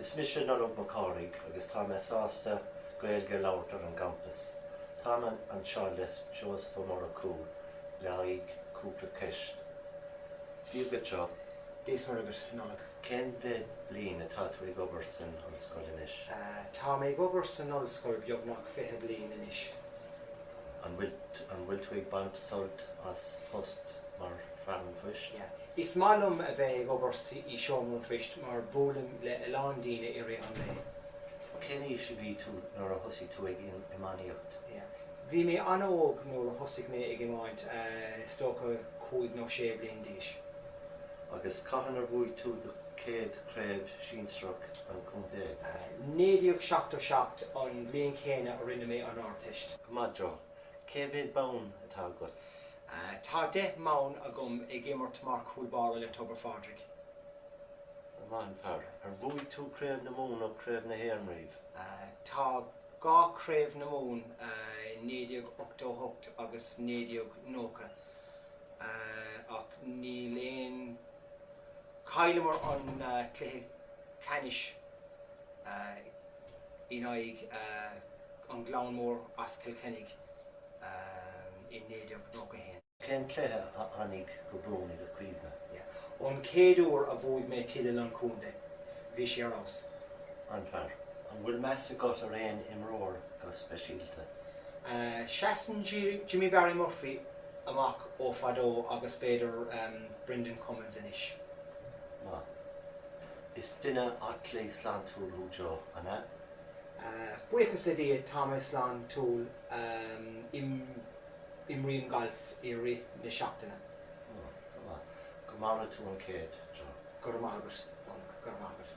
Is mise Nollaig Mac Cárthaigh agus tá mé sásta Gaeilge a labhairt ar an gcampas. Tá mé anseo le Seosamh Ó Murchú le haghaidh cúpla ceist. Dia duit, Joe. Dia is Muire duit, Nollaig. Cén mhéad bliain atá tú ag obair san ollscoil anois? Tá mé ag obair san ollscoil beagnach fiche bliain anois. An bhfuil tú ag baint sult as phost mar fear an phoist? Is maith liom a bheith ag obair i seomra an phoist mar buailim le a lán daoine i rith an lae. Cén aois a bhí tú nuair a thosaigh tú ag iománaíocht? Bhí mé an-óg nuair a thosaigh mé ag iomáint, is dócha cúig nó sé bliain d'aois. Agus cathain ar bhuaigh tú do chéad chraobh sinsearach an chontae? 1977 an bhliain chéanna a rinne mé an Ardteist. Go maith, Joe. Cé mhéad bonn atá agat? Tá deich mbonn agam ag imirt mar chúl báire le Tobar Phádraig. Maith an fear. Ar bhuaigh tú Craobh na Mumhan nó Craobh na hÉireann riamh? Tá dhá Craobh na Mumhan, 1988 agus 1990, ach níl aon. Chailleamar an cluiche ceannais in aghaidh An Gleann Mór as Cill Chainnigh i 1991. Cén cluiche a fhanfaidh go buan i do chuimhne? An chéad uair a bhuaigh mé teideal an chontae, bhí sé ar fheabhas. Maith an fear. An bhfuil meas agat ar aon imreoir? go speisialta. Seasann Jimmy Barry Murphy amach ó fadó agus b'fhéidir Brendan Cummins anois. Now, is duine aclaí sláintiúil thú Joe, an ea? Buíochas le Dia tá mé sláintiúil, imrím galf i rith na seachtaine. Ó, go maith. Go maire tú an céad, Joe. Go raibh maith agat, Nollaig, go raibh maith agat.